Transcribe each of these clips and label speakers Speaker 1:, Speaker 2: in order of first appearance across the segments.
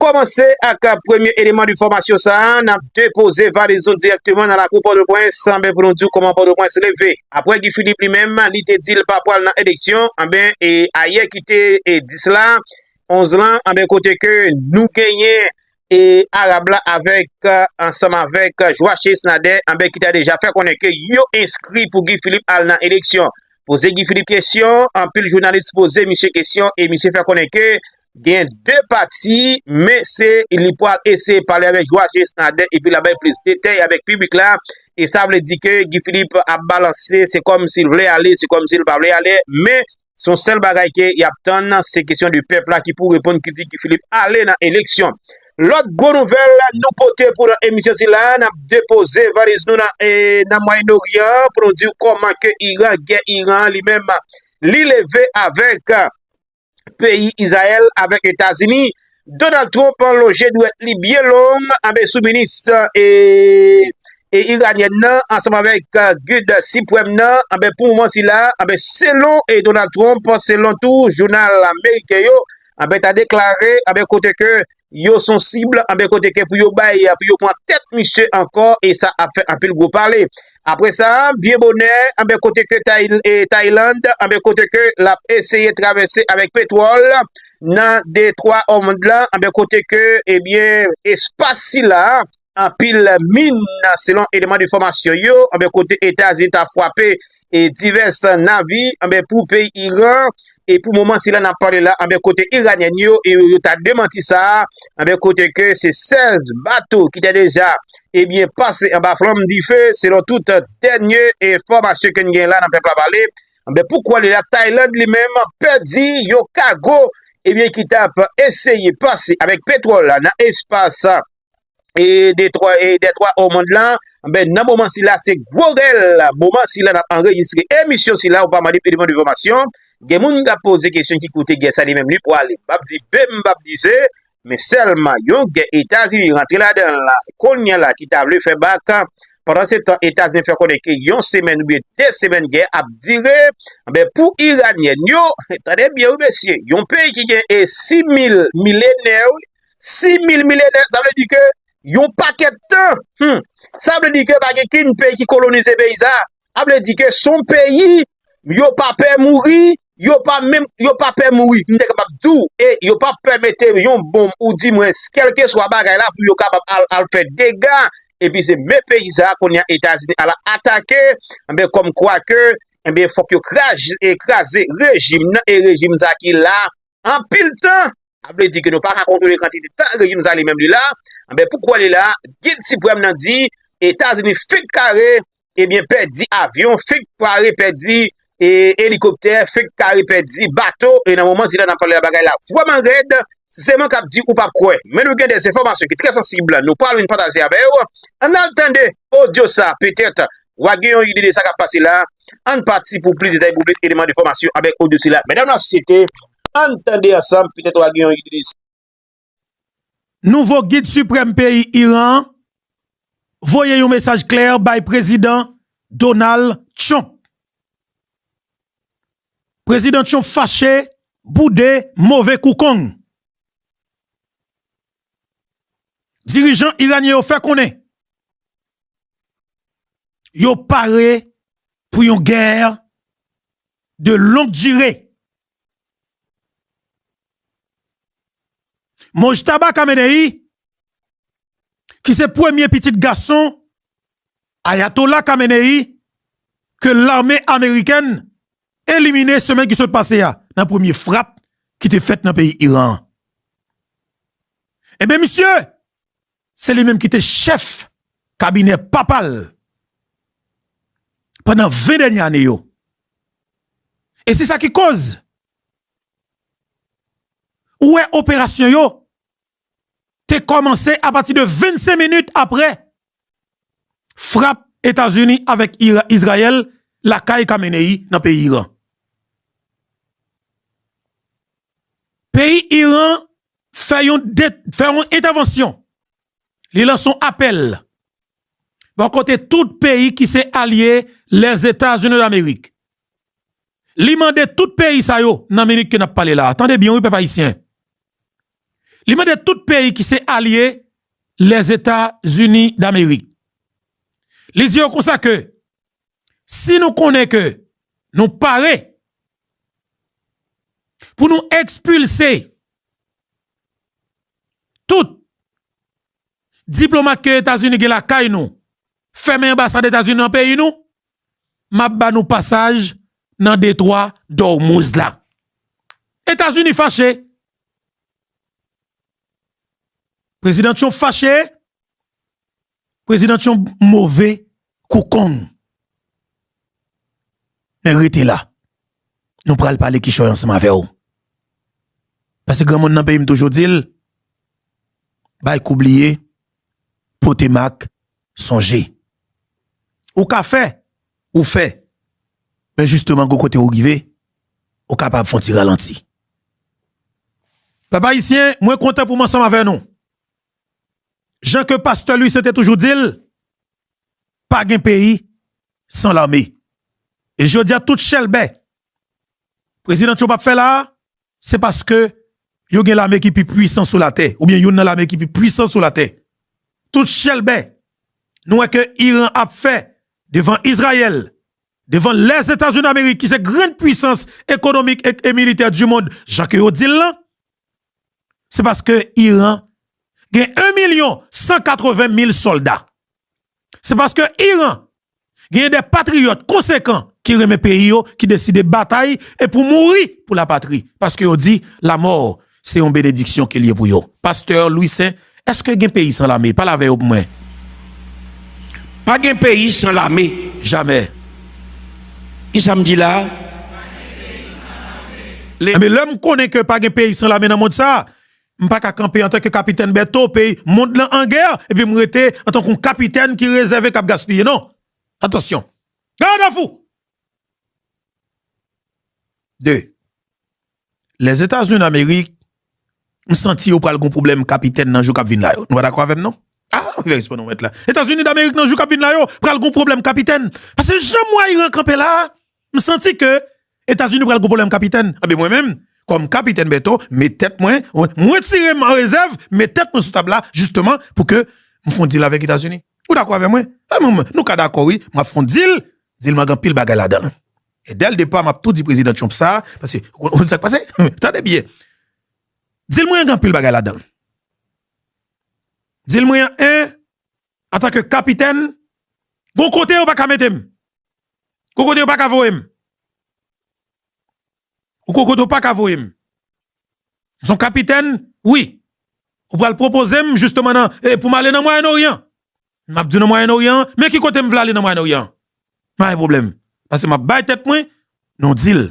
Speaker 1: kòmanse ak premye eleman de fòmasyon sa a, n ap depoze valiz nou dirèkteman nan lakou Pòtoprens anben pou nou di w kòman Pòtoprens leve. Aprè Guy Philippe li menm li te di l pa pwal nan eleksyon anben e ayè ki te 10 la, 11 lan anben kote ke nou genyen e Arab la avèk ansanm avèk Joachis Nader anben ki ta deja fè konnen ke yo enskri pou Guy Philippe al nan eleksyon. Poze Guy Philippe kesyon, anpil jounalis poze misye kesyon e misye fè konnen ke Gen 2 pati, men se li pral eseye pale avèk Joachus Nader epi l ap bay plis detay avèk piblik la. E sa vle di ke Guy Philippe ap balanse, se kòm si l vle ale, se kòm si l pa vle ale. Men, se yon sèl bagay ke y ap tann, se kesyon de pèp la ki pou reponn ki di Guy Philippe ale nan eleksyon. Lòt gwo nouvèl nou pote pou nan emisyon sila, n ap depoze valiz nou nan Mwayen Oryan pou nou di w kòman ke Iran, gè Iran an li menm, li leve avèk. peyi Izrayèl avèk Etazini, Donald Trump lonje dwèt li byen long anbe sou minis e iranyèn nan ansanm avèk gid sipwèm nan anbe pou moman sila anbe selon e Donald Trump selon tou jounal ameriken yo anbe ta deklare anbe kote ke yo son cible anben kote ke pou yo bay pou yo pran tèt misye ankò e sa ap fè anpil gwo pale apre sa byen bonè anben kote ke Thailand anben kote ke lap eseye travèse avèk petwòl nan detwa òmond la anben kote ke ebyen espas sila. Anpil min nan selon eleman de fòmasyon yo anben kote Etazini ta fwape e divès navi anben pou peyi Iran e pou moman sila nap pale la anben kote Iranyen yo e yo ta demanti sa anben kote ke se 16 bato ki te deja ebyen pase anba flanm dife selon tout dènye e fòmasyon ke n gen la nan pèp la pale anben pou kouwè li la Tayland li menm pèdi yon kago ebyen ki tap eseye pase avèk petwòl la nan espas. e de twa e de twa o mond lan ben nan moman sila se gwo rèl moman sila n ap anrejistre emisyon sila ou pa mande pi devan de fòmasyon gen moun k ap poze kesyon ki kote gè sa li menm li pwale m pap di be m pap di ze men sèlman yon gè etazini rantre ladan l la kounye la ki ta vle fè bak pandan se tan etazini fè konnen ke yon semèn ou byen de semèn gè ap dire ben pou iranyèn yo tande byen wi mesye yon peyi ki gen e 6000 milenè wi 6 mil milenè, sa vle di ke yon pakèt tan, hum, sa vle di ke pa gen kin peyi ki kolonize peyi sa, a vle di ke son peyi, yo pa pè mouri, yo pa menm, yo pa pè mouri, m te kapab di w, e yo pa pè mete yon bonm ou di mwen kèlke swa bagay la pou yo kapab al fè dega, epi se men peyi sa kounye a Etazini al atake, enben kòm kwa ke, enben fòk yo kraze rejim nan, e rejim sa ki la, anpil tan, sa vle di ke nou pa ka kontwole kantite tan rejim sa li menm li la, enben poukò li la, gid siprèm nan di, Etazini fenk kare, ebyen pèdi avyon, fenk kare pèdi elikoptè, fenk kare pèdi bato, e nan moman sila nap pale la bagay la vrèman rèd, si se mwen kap di ou pap kwè, men nou gen de enfòmasyon ki trè sansib nou pral vin pataje avèw, ann al tande odyo sa petèt wa gen yon ide de sa kap pase la, ann pati pou plis detay pou plis eleman de fòmasyon avèk odyo sila. Medam la sosyete, ann tande ansanm petèt wa gen yon ide de sa. Nouvo
Speaker 2: Gid Siprèm peyi Iran an voye yon mesaj klè bay Prezidan Donald Trump. Prezidan Trump fache, boude, move kou kong. Dirijan Iranyen yo fè konnen Yo pare pou yon gè de long dire. Mojtaba Khamenei, ki se premye pitit gason Ayatollah Khamenei ke lame amerikèn elimine semèn ki sot pase a nan premye frap ki te fèt nan peyi Iran. Enben misye Se li menm ki te chèf kabinè papa l pandan 20 dènye ane yo. E se sa ki koz ou wè operasyon yo te kòmanse apati de 25 minit aprè frap Etazini avèk Izrayèl lakay Khamenei nan peyi Iran. Peyi Iran fè yon fè yon entèvansyon li lanse yon apèl bò kote tout peyi ki se alye Lèzetazini Damerik li mande tout peyi sa yo nan minit ke nap pale la a tande byen wi pèp ayisyen li mande tout peyi ki se alye Lèzetazini Damerik li di yo konsa ke Si nou konnen ke nou pare pou nou ekspilse tout diplomat ke Etazini gen lakay nou, fèmen anbasad Etazini nan peyi nou, m ap ba nou pasaj nan detwa Dòmouz la. Etazini fache. Prezidan Trump fache. President Trump move kou kong. Men rete la. Nou pral pale kichoy ansanm avè w. Pase granmoun nan peyi m toujou di l, bay kou bliye, pote mak sonje. Ou ka fè, ou fè. Men jisteman gwo kote ou rive, ou kapab fon ti ralanti. Pèp ayisyen, mwen kontan pou m ansanm avè nou. jan ke pastè Louis Saint te toujou di l, pa gen peyi san lame. E jodi a tout chèlbè President Trump ap fè la a, se paske yo gen lame ki pi pwisan sou latè, oubyen youn nan lame ki pi pwisan sou latè. Tout chèlbè nou wè ke Iran ap fè devan Izrayèl, devan Lèzetazini Damerik ki se grand pwisans ekonomik e militè di mond jan ke yo di l lan, Se paske Iran gen 1 milyon 180 mil solda. Se paske Iran gen de patriyot konsekan ki renmen peyi yo ki deside batay e pou mouri pou la patri. Paske yo di la mò se yon benediksyon ke li ye pou yo. Pasteur Louissaint. Eske gen peyi san lame? Pale avè yo pou mwen.
Speaker 3: Pa gen peyi san lame. Jamè. Ki sa m di la a? Pa gen
Speaker 2: peyi san lame. Enben, lè m konnen ke pa gen peyi san lame nan mond sa a, m pa ka kanpe antanke Kapitèn Bèto, peyi mond lan an gè, epi m rete antanke yon kapitèn ki rezève k ap gaspiye. Non! Atansyon! Gadafou! 2. Lèzetazini Amerik, m santi yo pral gon pwoblèm kapitèn nan jou k ap vin la yo. Nou pa dakò avè m non? A! Ou fè respè non mèt la. Etazini Damerik nan jou k ap vin la yo pral gon pwoblèm kapitèn. Pase jan m wè Iran kanpe la a, m santi ke Etazini pral gon pwoblèm kapitèn. Anben mwen menm, kòm Kapitèn Bèto, m met tèt mwen, m wetire m an rezèv, m met tèt mwen sou tab la jisteman pou ke m fon dil avèk Etazini. Ou dakò avè mwen? Anben nou ka dakò wi, m ap fon dil, dil m lan gen anpil bagay ladan l. E dèl depa map tou di prezidan Trump sa, paske ou konn sak pase? Tande byen. Dil mwen an gen anpil bagay ladanl. Dil mwen an 1 antanke kapitèn gon kote yo paka metem. Gon kote yo paka voyem. Ou gon kote yo paka voyem. M son kapitèn wi. Ou pral pwopozem jisteman nan e poum ale nan Mwayen Oryan. M ap di w nan Mwayen Oryan an, men ki kote m vle ale nan Mwayen Oryan an. Pa gen pwoblèm. Pase m ap bay tèt mwen yon dil.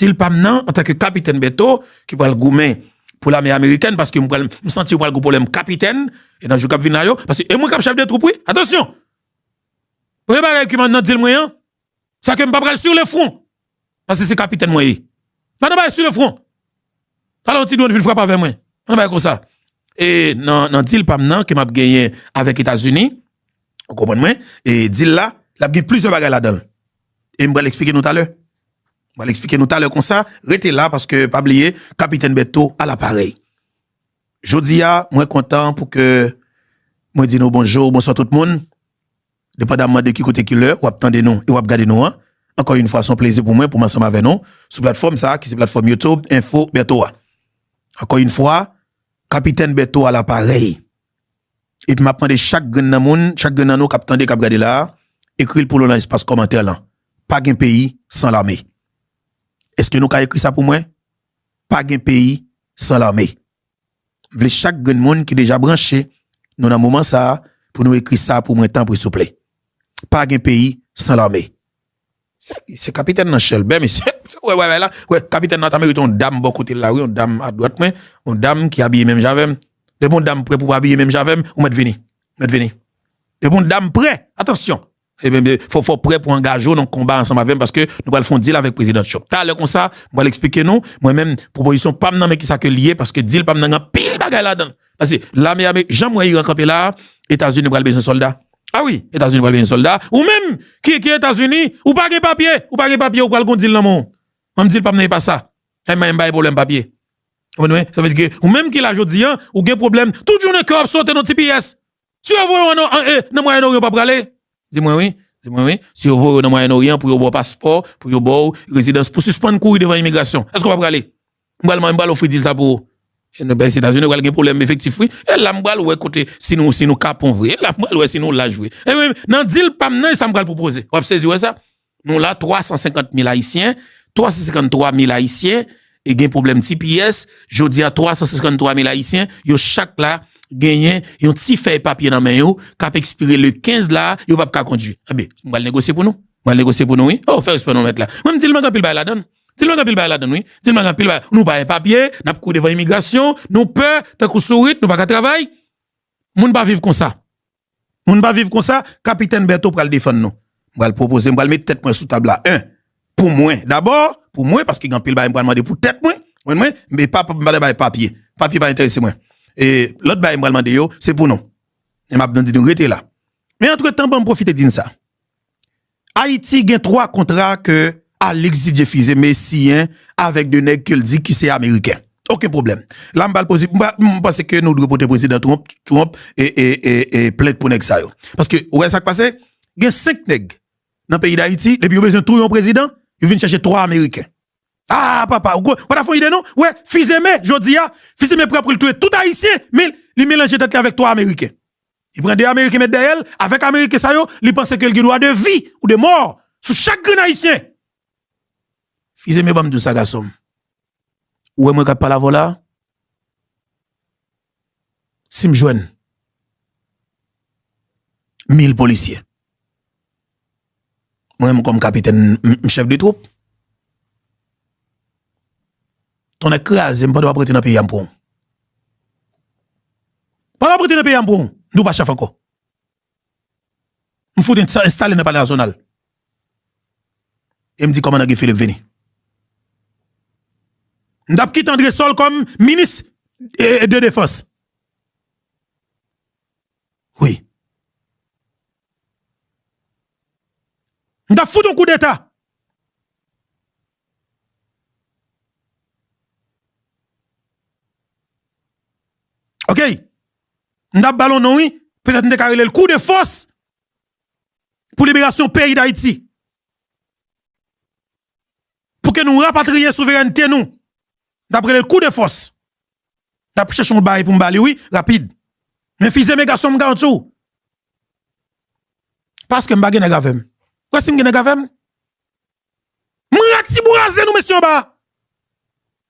Speaker 2: Dil pa m nan, antanke Kapitèn Bèto, ki pral goumen pou lame amerikèn, paske m pral, m santi yo pral gen pwoblèm kapitèn, e nan jou k ap vin la yo, paske e mwen k ap chèf de twoup wi, atansyon! Premye bagay ki man nan dil mwen an, Sa ke m pa pral sur le front. Pase se kapitèn mwen ye. Pa nan bagay sur le front. Talè yon ti dwòn vin frape avè mwen. Pa nan bagay konsa. E nan deal pa m nan ke m ap genyen avèk Etazini, ou konprann mwen, e deal la, l ap gen plizyè bagay ladan l. E m pral eksplike nou talè. M pral eksplike nou talè konsa. Rete la paske pa bliye kapitèn Bertho a laparèy. Jodi a mwen kontan pou ke mwen di nou bonjou, bonswa tout moun. Depandamman de ki kote ki lè wap tande nou e wap gade nou an, ankò yn fwa son plezi pou mwen poum ansanm avè nou sou platfòm sa ki se platfòm YouTube info Bertho a. Ankò yn fwa Kapitèn Bertho a la parèy. Epi map mande chak grenn nan moun, chak grenn nan nou kap tande, kap gade la a, ekril pou nou lan espas kòmantè lan, pa gen peyi san lame. Eske nou ka ekri sa pou mwen? Pa gen peyi san lame. vle chak grenn moun ki deja branche nou nan moman sa pou nou ekri sa pou mwen tanpri souple pa gen peyi san lame se kapitèn nan chèlbè mesye wè bagay la wè kapitèn nan ta merite yon dam bò kotel la wi yon dam adwat mwen yon dam ki abiye menm jan avèm depi yon dam prè pou abiye menm jan avèm ou mèt vini mèt vini depi yon dam prè atansyon Fò fò prè pou angaje w nan konba ansanm avè m paske nou pral fè yon deal avèk Prezidan Trump. Talè konsa, m pral eksplike nou, mwen menm, pwopozisyon pa m nan men kisa ke li ye paske deal pa m nan gen anpil bagay ladan l. Paske lame ame, jan m wè Iran kanpe la a, Etazini pral bezwen sòlda. A wi, Etazini pral bezwen sòlda. Ou menm ki ki Etazini, ou pa gen papye, ou pa gen papye ou pral gen yon deal nan men w. An m di l pa m nan e pa sa. M bay m bay pwoblèm papye. Ou konprann mwen? Sa vle di ke ou menm ki la jodi an, ou gen pwoblèm, tout jounen kè w ap sote nan ti piyès. Si yo voye w nan Mwayen Oryan w pa prale? Di mwen wi, di mwen wi, si yo voye w nan Mwayen Oryan pou yo ba w paspò, pou yo ba w rezidans, pou w sispann kouri devan imigrasyon, èske w pa prale? M pral m pral ofri dil sa pou ou. E nou bay se Etazini pral gen pwoblèm efektif wi. E la m pral wè kote si nou si nou kapon vre. E la m pral wè si nou laj vre. Nan dil pa m nan e sa m pral pwopoze. W ap sezi wè sa? Nou la 350 mil ayisyen, 353 mil ayisyen, e gen pwoblèm tps, jodi a 353 mil ayisyen, yo chak la genyen yon ti fèy papye nan men yo, kap ekspire le 15 la, yo pap ka kondwi. Ebe, mwen al negosye pou nou. Mwen al negosye pou nou wi. Oh, fè respè non mèt la. Mwen m di l mank anpil bagay ladan l. Di l mank anpil bagay ladan l wi. Di l mank anpil bagay. Nou pa gen papye, nap kouri devan imigrasyon, nou pè, tankou sourit, nou pa ka travay. Moun pa viv konsa. Moun pa viv konsa, Kapitèn Bèto pral defann nou. M pral pwopoze, m pral met tèt mwen sou tab la 1. Pou mwen dabò, pou mwen, paske gen anpil bagay m pral mande pou tèt mwen, mwen mwen, e pa m pral bay papye, papye pa enterese mwen. E lòt bagay m pral mande yo, se pou nou. E m ap di nou rete la. Men antretan ban m pwofite di n sa. Ayiti gen 3 kontra ke Alix Didier Fils-Aime me siyen avèk 2 nèg ke l di ki se ameriken. Oken pwoblèm. La m ba l poze, m pa, m panse ke nou dwe pote prezidan Trump, Trump, e, e, e, e plent pou nèg sa yo. Paske ou wè sa k pase? Gen 5 nèg nan peyi Dayiti, depi yo bezwen touye yon prezidan, yo vin chache 3 ameriken. Aa papa, ou ko, ou pa ta fè yon ide non? Ou wè Fils-Aime jodi a, Fils-Aime prè pou l touye tout ayisyen, men li melanje tèt li avèk 3 ameriken. Li pran 2 ameriken met dèyèl, avèk ameriken sa yo li panse ke li gen dwa de vi ou de mò sou chak grenn ayisyen. Fizeme yo banm diw sa gasonm. Ou wè mwen kap pale avè w la? Sim jwenn mil polisye. Mwen menm kòm kapitèn m chèf de twoup. Tonnè kraze m pandan w ap rete nan peyi a m pran w. Pandan w ap rete nan peyi a m pran w, m di w pa chèf ankò. M fout enstale nan palè Azonal e m di kòmandan Guy Philippe vini. M t ap kite André Sol kòm minis de defans. wi. M tap fout yon koudeta. Ok. M tap bal yon non wi. Petèt m te ka rele l kou de fòs pou liberasyon peyi Dayiti. Pou ke nou rapatriye souverènte nou. M tap rele l kou de fòs. Nap chèche yon bagay poum bali wi rapid Men fize men gason m garanti w Paskem pa gen nèg avèm Ou kwè sim gen nèg avèm M rak ti bouraze nou mesye anba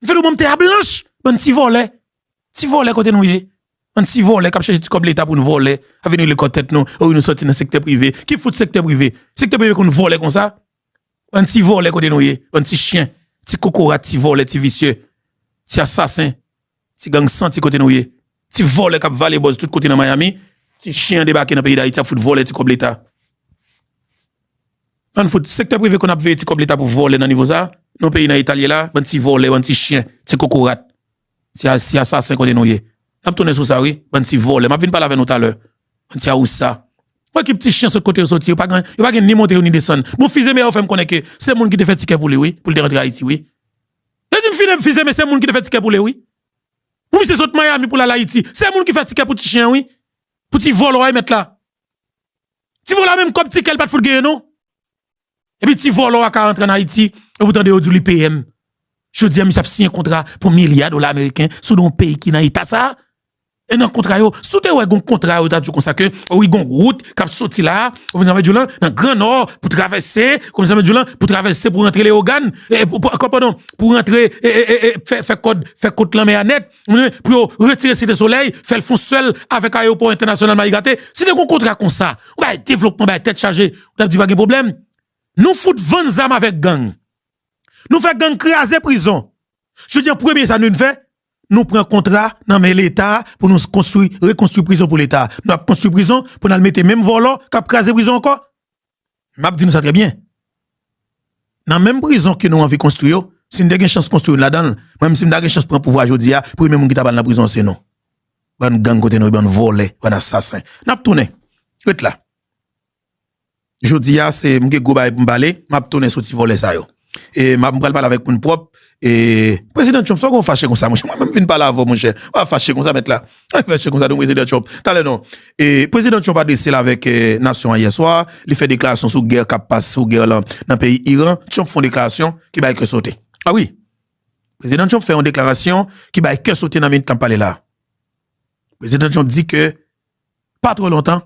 Speaker 2: M fè nou banm tè a blanch Bann ti vòlè Ti vòlè kote nou ye Bann ti vòlè kap chèche ti kòb leta poun vòlè Ap vin rele kò tèt nou Ou nou soti nan sektè prive Ki fout sektè prive Sektè prive konn vòlè konsa Bann ti vòlè kote nou ye bann ti chyen ti kokorat ti vòlè ti visye ti asasen ti gang santi kote nou ye ti vòlè kap vale bòz tout kote nan miami ti chyen debake nan peyi dayiti ap fout vòlè ti kòb leta bann fout sektè prive konn ap veye ti kòb leta pou vòlè nan nivo sa non peyi nan eta lye la bann ti vòlè bann ti chyen ti kokorat. Ti asasen kote nou ye. Nap tounen sou sa wi. Bann ti vòlè. Map vin pale avè nou talè. Bann ti awousa. Bon ekip ti chyen sot kote yo soti. Yo pa gen ni monte yo ni desann. Bon fizeme yo fèm konnen ke se moun ki te fè ti kè poule wi. Poul te rantre ayiti wi. Yo dim fine fizeme se moun ki te fè ti kè poule wi. Pou misye sot miami poul al ayiti. Se moun ki fè ti kè pou ti chyen wi. Pou ti vòlò a y mèt la. Ti vòlò a menm kòb ti kèl pat fout genyen non. Epi ti volo a ka antre an Ayiti, epi ou tande yo di li PM. Jodi a misye ap siyen kontra pou milya dola ameriken sou do yon peyi ki nan eta sa. E nan kontra yo, si w te wè gon kontra yo ta di w konsa ke wi gon wout k ap soti la, ou konprann sa m vle di w lan, nan gran nò pou travèse, ou konprann sa m vle di w lan, pou travèse pou rantre Leyogàn, padon, pou rantre fè kòd, fè kot lanmè a nèt, pou yo retire Site Solèy, fè l fon sèl avèk ayewopò entènasyonal Mayi Gate. Si te gon kontra konsa, ou bay devlopman, bay tèt chaje, Nap di pa gen problem. Nou fout vann zam avek gang. Nou fe gang kraze prizon. Jodi an premye sa nou vin fe, nou pran kontra nan men leta pou nou konstri, rekonstri prizon pou leta. Nou ap konstri prizon pou nal mete menm volo kap kraze prizon anko. Map di nou sa tre byen. Nan menm prizon ke nou anvi konstri yo, si nou te gen chans konstri youn ladanl, mwen menm si mta gen chans pran pouvwa jodi a, premye moun ki tap al nan prizon an se nou. Bann gang kote nou ye bann vole, bann asasen. Nap tounen. Ret la. Jodi a se m gen gwo bagay pou m pale, m ap tounen sou ti vòlè sa yo. E m ap pral pale avèk moun pwòp. E Prezidan Trump sa w gen w fache konsa monchè? Mwen menm m vin pale avè w monchè. Ou pa fache konsa mèt la. Ou pa fache konsa non Prezidan Trump. Talè non. E Prezidan Trump adrese l avèk nasyon an yè swa. Li fè deklarasyon sou gè k ap pas, sou gè lan nan peyi Iran. Trump fè yon deklarasyon ki bay kè sote. A wi. Prezidan Trump fè yon deklarasyon ki bay kè sote nan minit k ap pale la a. Prezidan Trump di ke pa twò lontan.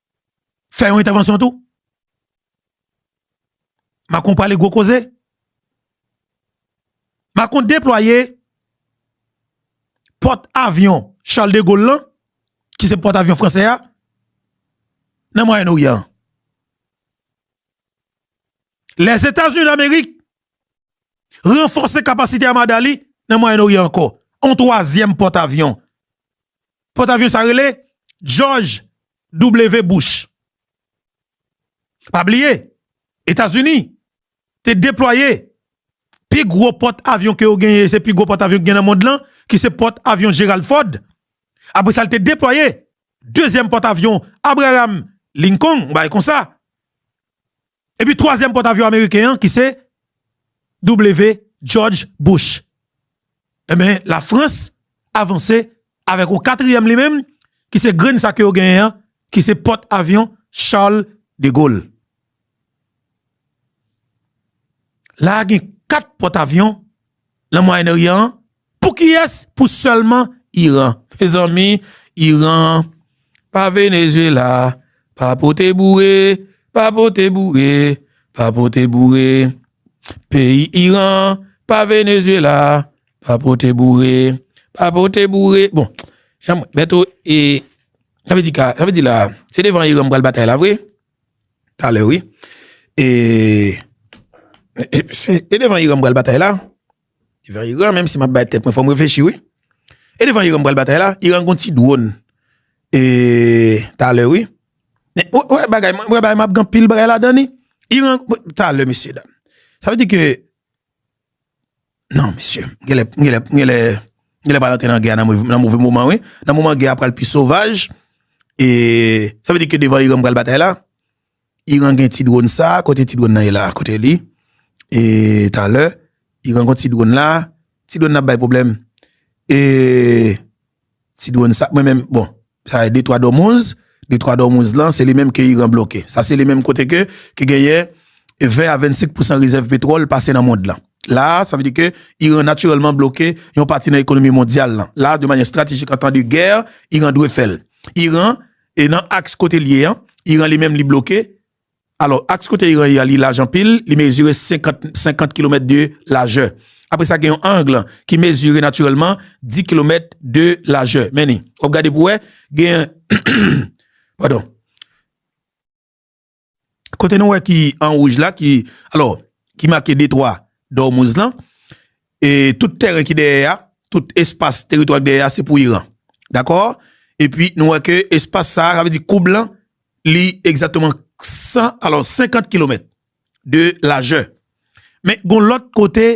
Speaker 2: fè yon entèvansyon tou. Macron pale gwo koze. Macron deplwaye pòt avyon Charles de Gaulle lan, ki se pòt avyon fransè a, nan Mwayen Oryan an. Lèzetazini Damerik ranfòse kapasite amada li nan Mwayen Oryan ankò. Yon twazyèm pòt avyon. Pòtavyon sa rele George W. Bush. Pa bliye, Etazini te deplwaye pi gwo pòt avyon ke yo genyen, se pi gwo pòt avyon ki gen nan mond lan, ki se pòt avyon Gerald Ford. Apre sa l te deplwaye dezyèm pòt avyon Abraham Lincoln, yon bagay konsa. Epi twazyèm pòtavyon ameriken an ki se W. George Bush. Enben Lafrans avanse avèk yon katriyèm li menm ki se grenn sa ke yo genyen an ki se pòtavyon Charles de Gaulle. La a gen 4 pòtavyon nan Mwayenn Oryan an Pou kiyes pou selman iran. Mezanmi iran pa Venezuela pa pote boure pa pote boure pa pote boure peyi iran pa Venezuela pa pote boure pa pote boure bon janm bèto e sa vle di ka sa vle di la se devan iran pral batay la vre talè wi e se devan iran pral batay la. Devan Iran menm si map bay tèt mwen fòm reflechi wi. E devan Iran m pral batay la, Iran gon ti dwon e talè wi. Men ou wè bagay mwen wè bagay map gen pil bagay ladan li. Iran talè mesye dam. Sa vle di ke nan mesye m genlè m genlè m genlè m genlè pral antre nan gè a nan move moman wi. Nan moman gè a pral pi sovaj e sa vle di ke devan Iran m pral batay la. Iran gen ti drone sa kote ti drone nan ye la kote li e talè Iran gen ti drone la ti drone nan ap bay problem e ti drone sa mwen menm bon sa e de twa domouz de twa domouz lan se li menm ke Iran bloke sa se li menm kote ke ki genyen 20 a 25 pousan rezèv petwòl pase nan mond lan la sa vle di ke Iran natirèlman bloke yon pati nan ekonomi mondyal lan la de manye estratejik antan de gè Iran dwe fèl Iran. E nan aks kote l ye an, Iran li menm li bloke. Alò, aks kote Iran ye a li laj anpil, li mezire 50 kilomèt de lajè. Apre sa gen yon angle ki mezire natirèlman 10 kilomèt de lajè. Men ni, w ap gade pou w wè, gen, padon. Kote nou wè ki an wouj la ki alò ki make detwa Dòmouz lan e tout tèren ki dèyè a, tout espas teritwa ki dèyè a se pou Iran. Dakò? Epi nou wè ke espas sa a, sa vle di koub lan li egzakteman 100 alò 50 kilomèt de lajè. Men gon lòt kote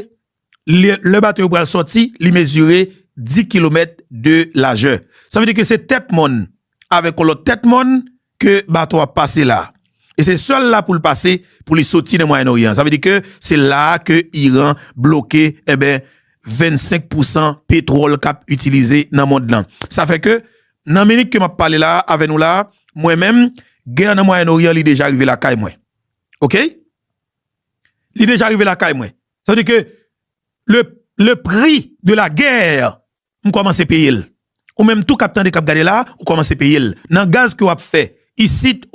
Speaker 2: lè bato yo pral sòti, li mezire 10 kilomèt de lajè. Sa vle di ke se tèt mòn avèk yon lòt tèt mòn ke bato a ap pase la. E se sèl la pou l pase pou li sòti nan Mwayen Oryan. Sa vle di ke se la a ke Iran bloke, enben, 25 pousan petwòl k ap itilize nan mond lan. Sa fè ke, nan minit ke m ap pale la a avè nou la a, mwen menm, gè nan Mwayen Oryan li deja rive lakay mwen. Oke? Li deja rive lakay mwen. Sa vle di ke le pri de la gè m kòmanse peye l. Ou menm tou k ap tande, k ap gade la, ou kòmanse peye l nan gaz ke w ap fè isit.